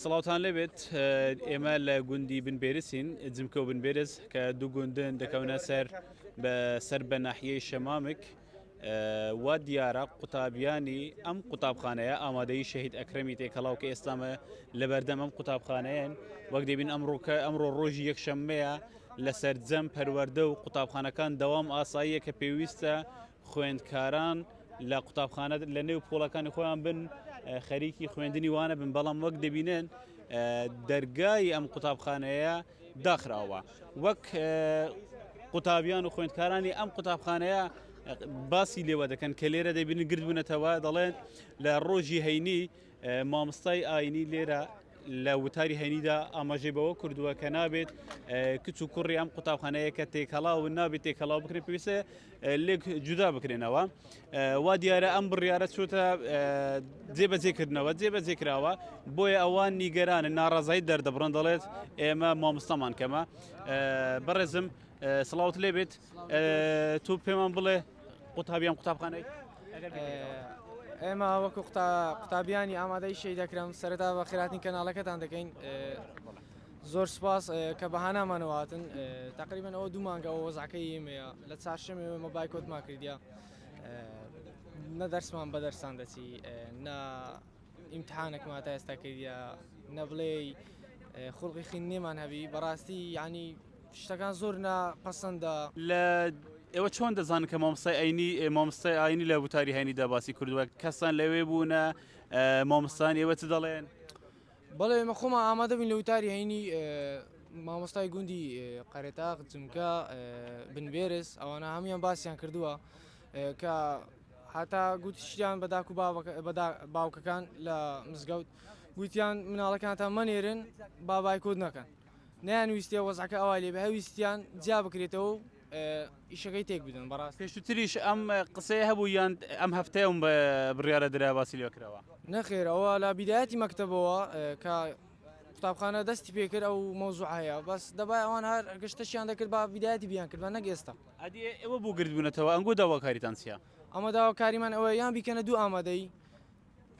سڵاوتان لێبێت ئێمە لە گوندی بن بێرسین جمکە و بن بێرز کە دوو گوندن دەکەونە سەر بە سەر بە ناحیەی شەمامک وا دیارە قوتابیانی ئەم قوتابخانەیە ئامادەی شەهید ئەکرەمی تێکەڵاو کە ئێستامە لە بەردەم ئەم قوتابخانەیەن وەک دەبین ئەمڕۆکە ئەمڕۆ ڕۆژی یەکشەممەیە لە سەرجەم پەروەەردە و قوتابخانەکان دەوام ئاساییە کە پێویستە خوێندکاران لە قوتابخانە لە نێو پۆڵەکانی خۆیان بن خەریکی خوێندنی وانە بن بەڵام وەک دەبینن دەرگای ئەم قوتابخانەیە داخراوە وەک قوتابیان و خوێندکارانی ئەم قوتابخانەیە باسی لێوە دەکەن کە لێرە دەبین گردبوونەتەوە دەڵێن لە ڕۆژی هەینی مامۆستای ئاینی لێرە لە وتاری هەینیدا ئاماژەی بەوە کردووە کە نابێت کچ و کوڕی ئەم قوتابخانەیە کە تێکەڵاو نابێت تێکەڵاو بکرێت پێویستە لێک جودا بکرێنەوە وا دیارە ئەم بڕیاە چۆتە جێبەجێکردنەوە جێبەجێکراوە بۆیە ئەوان نیگەرانە ناڕازایی دەردەبڕن دەڵێت ئێمە مامۆستامان کەمە بەڕێزم سڵاوت لێبێت تۆ پێمان بڵێ قوتابیان قوتابخانەی ئێمە وەکو قوتابیانی ئامادەی شەی دەکرم سەرتا بە خراتی کەناڵەکەتان دەکەین زۆر سپاس کە بەهانامانەوەاتن تقریبن ئەوە دوو مانگە ئەو وەزعەکە ئێمەیە لە چارشەمێ ئەمە بایکۆتمان کردیا نە دەرسمان بە دەرسان دەچی نە ئیمتحانەکم هاتا ئێستا کردیە نەبڵێ خوڵقی خوێندنێمان هەبی بەڕاستی یعنی شتەکان زۆر نا پەسەندە لە ئێوە چۆن دەزان کە مامسای ئەینی مامسای ئاینی لە وتاری هەینی دەباسی کردووە کەسان لەوێ بوونە مامستان ئێوە چ دەڵێن بەڵێ ئێمە خۆمان ئامادە بین لە وتاری هەینی مامۆستای گوندی قەرێتاق جمکە بنبێرس ئەوانە هەموان باسییان کردووە کە هەتا گوتیشیان بە داک و باوکەکان لە مزگەوت گوتیان مناڵەکانتان مەنێرن با بایکۆت نەکەن نەیانویستێ وەزعەکە ئەوا لێ بهویستیان جیا بکرێتەوە و ئیشەکەی تێک بدەن بەڕاست پێشوتریش ئەم قسەیە هەبوو یان ئەم هەفتەیەم بە بڕیارە درا باسی لێ کراوە نەخێر ئەوە لە بیدایەتی مەکتەبەوە کە قوتابخانە دەستی پێکرد ئەو مەوزوع هەیە بەس دەبای ئەوان هەر گشتەشیان دەکرد بە بیدایەتی بیان کرد بە نەگەێستا ئەدی ئێوە بۆ گردبوونەتەوە ئەنگۆ داواکاریتان چیە؟ ئەمە داواکاریمان ئەوەیە یان بیکەنە دوو ئامادەیی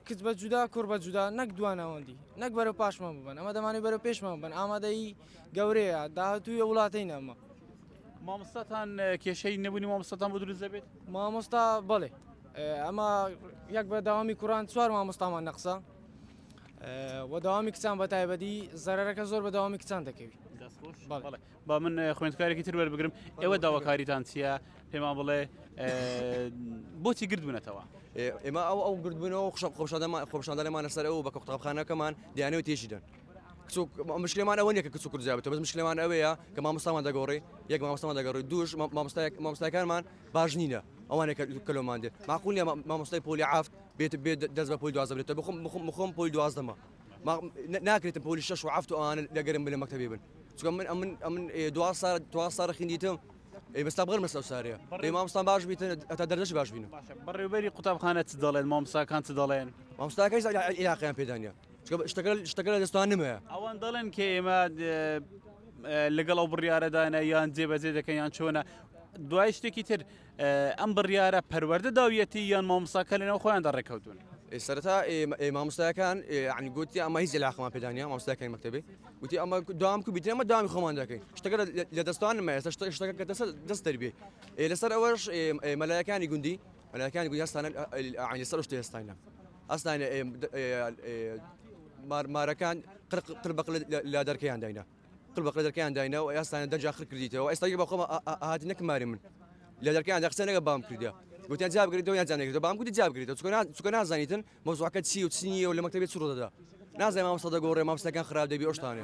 کچ بە جودا کوڕ بە جودا نەک دوا ناوەندی نەک بەرە پاشمان ببن ئەمە دەمانێت بەرە پێشمان بن ئامادەیی گەورەیە داهاتووی وڵاتەی نامە مامۆستاتان کێشەی نەبوونی مامۆستاتان بۆ دروست دەبێت مامۆستا بڵێ ئەمە یەک بە داوامی کوڕان چوار مامۆستامان نەقسە و داوامی کچان بە تایبەتی زەرەرەکە زۆر بە داوامی کچان دەکەوی با من خوێندکارێکی تر وەربگرم ئێوە داواکاریتان چییە پێمان بڵێ بۆچی گردبوونەتەوە ئێمە ئەو ئەو گردبوونەوە خشە خۆشادەمان خۆشاندانەمانە سەر ئەو بە قوتابخانەکەمان دیانەوە تێشی دەن مشکلمان ئەوە نیە کە کچ کوردزیاب بە مشکلمان ئەوەیە کە مامۆستامان دەگۆڕی یەک مامۆستامان دەگەڕی دوش مامۆستایکانمان باش نینە ئەوانە کەلۆمان دێت ماقولە مامۆستای پۆلی ئافت بێت بێت دەست بە پۆی دوازە بێتە بخم بخم بخۆم پۆی دوازدەمە ناکرێتم پۆلی شش و هەفت و ئەوانە لەگەرم بلە مەکتتەبی بن چونکە من ئەمن ئەمن دوا سار دوا سار خیندیتم ئەی بەستا بغەر مەسەو سارێ بەڕێ مامۆستان باش بیتە ئەتا دەرجەش باش بینم بەڕێوبەری قوتابخانە چ دەڵێن مامۆستاکان چ دەڵێن مامۆستاکەی عیلاقیان پێدانە چونکە شتەکە شتەکە لە دەستوان نمەیە ئەوان دەڵێن کە ئێمە لەگەڵ ئەو بڕیارەدانە یان جێبەجێ دەکەن یان چۆنە دوای شتێکی تر ئەم بڕیارە پەروەردە داویەتی یان مامۆستاکە لەناو خۆیان دا ڕێکەوتون؟ سەرەتا مامۆستایەکان ینی گوتی ئەمە هیچ علاقمان پێدانە مامۆستایەکانی مەکتتەبێ گوتی ئەمە دام کو بیتێمە دامی خۆمان دەکەین شتەکە لە دەستان نمە ئێستا شتە شتەکە کە دەست دەست دەربێ لەسەر ئەوەش مەلایەکانی گوندی مەلایەکانی گوندی هەستانە عینی سەر شتێ هەستانە هەستانە مارەکان قرق قربق لە دەرکەیان داینا قل بەقلە دەرکەیان داینە و ئەیاستانە دەرجا خر کردیتەوە و ئێستا گیر بە خۆما ئەهات نەک ماری من لە دەرکەیان دا قسە نەگە بام کردە گوتیان جواب گرێتەوە یان جواب نەگرێتەوە بام گوتی جواب گرێتەوە چونکە چونکە نازانیتن مەوزوعەکە چی و چی نییە و لە مەکتەبێ چ ڕوو دەدا نازانێ مامۆستا دەگۆڕێ مامۆستاکان خراپ دەبی ئەو شتانە